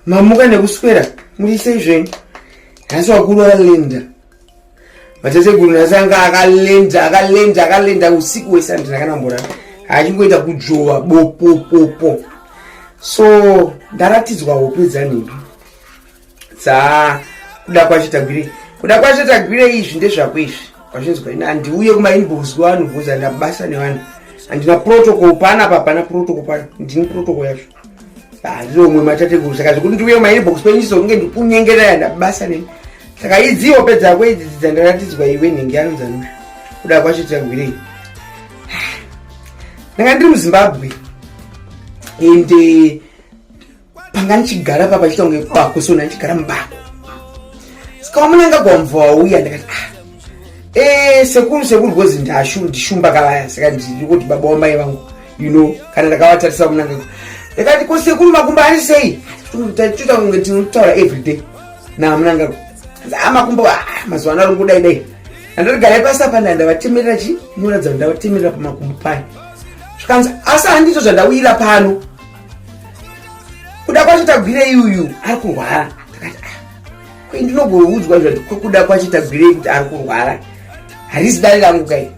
mamuka nekuswera murisei zvenyu nhasi wakuru akalinda matateguru nhasi anga akalinda akalinda akalinda usiku wese andina kana mbora achingoita kudzvova bopopopo so ndaratidzwa hope dzanhindu dza kuda kwacho tagwirei kuda kwacho tagwirei izvi ndezvako izvi kwachinzwa ini handiuye kumainbox kwevanhu bvunza ndabasa nevanhu handina protocol pana pa pana protocol pana ndini protocol yacho handiromwe ah, matateguru saka zvekuti ndiuye mainbox penyu chizonge ndikunyengerera ndabasa nei saka idzi hope dzako idzi dzandaratidzwa iwe nhingi anonzanura kuda kwacho tiagwirei ah, ndanga ndiri muzimbabwe and eh, panga ndichigara papa chiita kunge bako so ndandichigara mubako saka wamunanga gwamva wauya ndakati ah eh, sekuru sekuru gozi ndashundishumba kavaya saka ndiri kuti baba wamai vangu you know kana ndakavatarisa kunanga ndakati ko sekuru makumbo ari sei toita kunge tinotaura everyday namunanga ah, makumbo ah, mazuva ano aringodai dai andotigarai pasi apa nda ndavatemerera chi muratidza ndavatemerera pamakumbo paye zvikanzi asi handizvo zvandauyira pano kuda kwacho tagwirei uyu ari kurwara ndakati ah, kwai ndinogoudzwa zvati kwekuda kwacho tagwirei kuti ari kurwara harizi dare rangu kai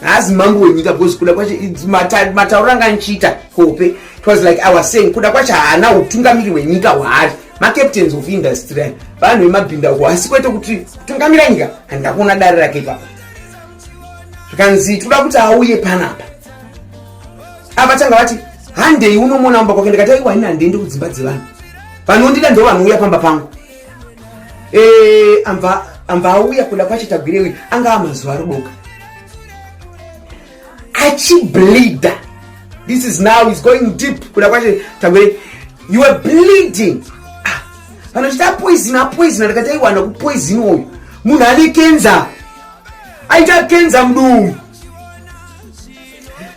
haazi mambo wenyika because kuda kwacho matauro anga anchiita kope it was like i was saying kuda kwacho haana utungamiri hwenyika hwaari macaptains of industry vanhu vemabhinda uko asi kwete kuti kutungamira nyika handida kuona dare rake ipapa zvikanzi tikuda kuti auye panapa apa tanga vati handei unomona mumba kwake ndikati aiwa ini handiende kudzimba dzevanhu vanondida ndo vanouya pamba pangu Eh, ambva auya kuda kwacho tagwirewe anga amazuva arudoka achibleeda this is now is going deep kuda kwacho tagwire you are bleeding ah, vanochita ah, poison apoison ndakati aiwana kupoison uyu munhu ane kenza aita kenza mduu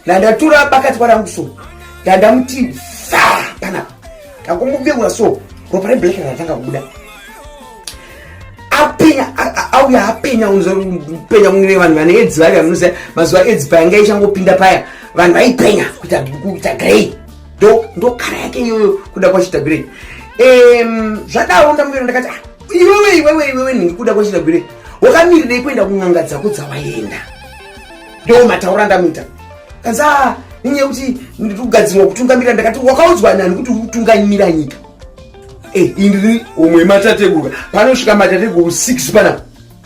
ndandatura bakatwa rangu so ndandamuti fa panapa ndangomuvegura so ropa reblack ratanga kubuda apenya auya apenya penya kunge vanhu vane edzi vavya munoziva mazuva edzi payanga ichangopinda paya vanhu vaipenya kuita grey ndokara yake iyoyo kuda kwachita grey zvadaro ndamuvero ndakati ah, iwewe iwewe iwewe ndingi kuda kwachita grey wakamirirei kuenda kun'anga dzako dzawaenda Ndo mataura ndamuita. Kanza ninye kuti ndikugadzirwa kutungamira ndakati wakaudzwa nani kuti utungamira nyika. Eh, indri umwe matateguru. Panosvika matateguru 6 pana.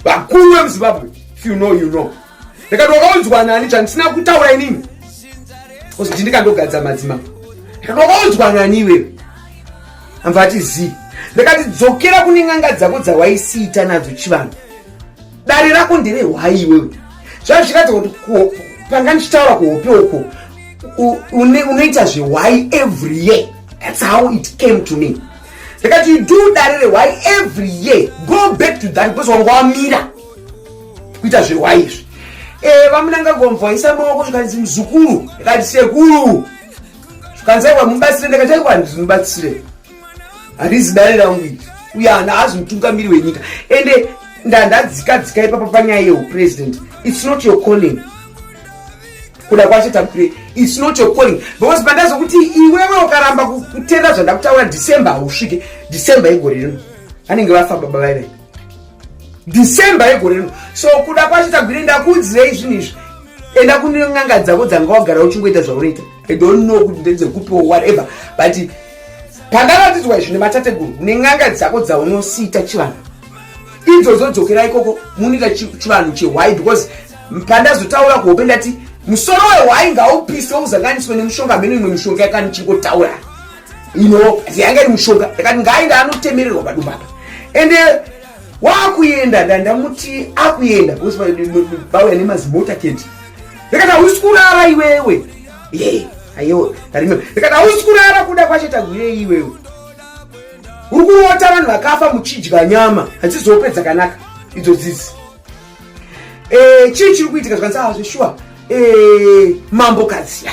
Vakuru vemuZimbabwe. If you know you know. Ndakati wakaudzwa nani chandisina kutaura inini. Kosi ndindikandogadza madzima. Ndakati wakaudzwa nani iwe. Amva ati zii. Ndakati dzokera kune n'anga dzako dzawaisiita nadzo chivanhu. dare rako ndere hwai iwewe zvazviratidza kuti panga ndichitaura kuhope uko unoita zvehwai every year thats how it came to me ndikati you do dare rehwai every year go back to that because wanga wamira kuita zvehwai izvi eh, vamunanga gomvaisa maoko zvikanzi muzukuru ndikati sekuru zvikanzi aiwa mubatsire ndikati aiwa ndinobatsire handizi dare rangu iri uye hana hazi mutungamiri wenyika ende ndandadzika dzika ipapa panyaya yeupresident its not your calling kuda kwacho tapire its not your calling because pandazokuti iwewe ukaramba kutenda zvandakutaura december hausvike december yegore rino vanenge vafa baba vaive december yegore rino so kuda kwacho tagwire ndakuudzirei zvinhu izvi enda kunen'anga dzako dzanga wagara uchingoita zvaunoita i don't know kuti ndedzekupi or whatever but pandaratidzwa izvi nematateguru nen'anga dzako dzaunosiita chivanhu idzodzo dzokera ikoko munoita chivanhu chehwai because pandazotaura kuhope ndati musoro wehwai ngaupiswe uzanganiswe nemushonga mheno imwe mishonga yakani chingotaura ino yanga iri mushonga yakati ngainda anotemererwa padumba apa ende wakuenda ndandamuti akuenda bauya nemazimota keti ndikati hausi kurara iwewe ye ayo arime ndikati hausi kurara kuda kwacho tagwirei iwewe uri kurota vanhu vakafa muchidya nyama hadzizope dzakanaka idzo dzizi eh, chii chiri kuitika zvikanzi azve ah, shuwa eh, mambo kadziya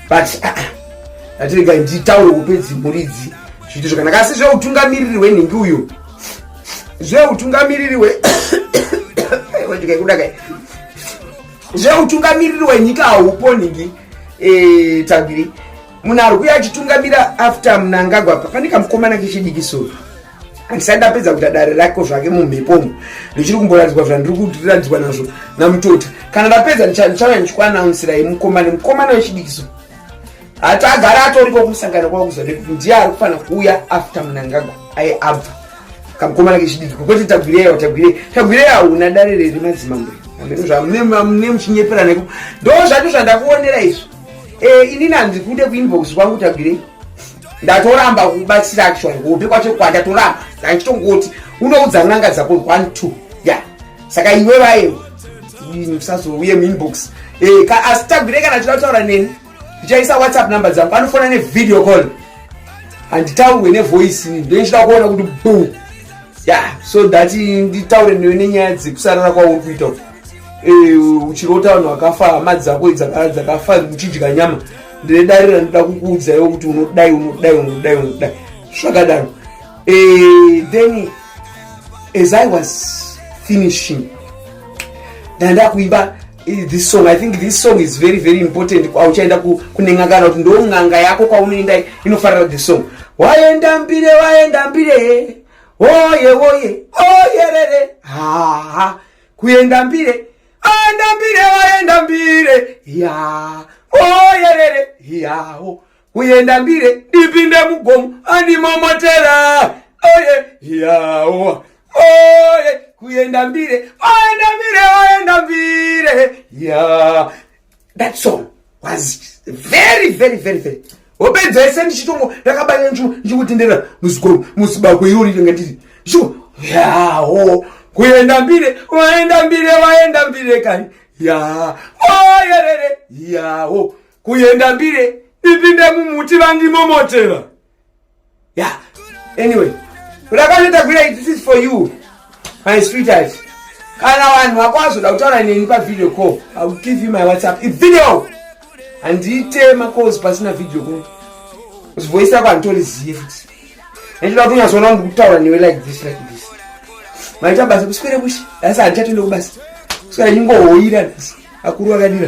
but ah, ah, atirega nditaure upedzi mhuri idzi zviito zvakanaka asi zveutungamiriri hwenhingi uyo zveutungamiriri we ndikaikudakai zveutungamiriri wenyika haupo nhingi eh, tagiri munhu ari kuya achitungamira after mnangagwa pane kamukomana kechidiki soo handisati ndapedza kuita dare rako zvake mumhepomo ndichiri kumboratidzwa zvandiri kuratidzwa nazvo namutota kana ndapedza ndichauya ndichikuanaunsirai mukomana mukomana wechidikiso hati agara atoriko kumusangano kwakuza nekuti ndiye ari kufanira kuuya after munangagwa aye abva kamukomana kechidiki kwekuti tagwirei awo tagwirei tagwirei hauna dare reri madzimambo mune muchinyepera neko ndo zvacho zvandakuonera izvo eh, inini handikude kuinbox kwangu tagwirei ndatoramba kubatsira actually kuhope kwacho kwa ndatoramba ndachitongoti unoudza n'anga dzako one two ya saka iwe vaye musazouye muinbox eh, asi tagwire kana tida kutaura neni ndichaisa whatsapp number dzangu vanofona nevideo call handitaurwe nevoice ndoichida kuona kuti bo ya so that nditaure newe nenyaya dzekusarara kwauri kuita eh, uchirota vanhu vakafa hama dzako dzakafa uchidya nyama ndine dare randida kukuudzaiwo kuti unodai unodai unodai unodai zvakadaro eh, then as i was finishing ndanda kuimba eh, this song i think this song is very very important kwauchaenda kunenga kana kuti ndo n'anga yako kwaunoenda inofarira this song waenda mbire waenda mbire oye oye oyerere haa kuenda mbire Aenda mbire waenda mbire ya oyerere yawo uyenda mbire ndipinde mugomo andimomotera oye yawo oye kuyenda mbire oyenda mbire oyenda mbire ya that song was very very very very wopedza yese ndichitongo ndakabanya nchu ndichikutendera muzikomo musibako iro rinenge ndiri sho yaho kuenda mbire waenda mbire waenda mbire kani ya oyerere yaho kuenda mbire ndipinde mumuti vandimomotera Yeah. Anyway, ulakaneta kuya this is for you. My sweetheart. Kana vanhu vako vazoda kutaura neni pa video call, I will give you my WhatsApp. It's video. Handite ma calls pasina video call. It's voice yako antori ziye futhi. Ndinoda kuti unyazoona ngikutaura newe like this like this. Maita basa kuswera kushi. That's antatende kubasa. Kuswera nyingo hoira. Akuru akadira.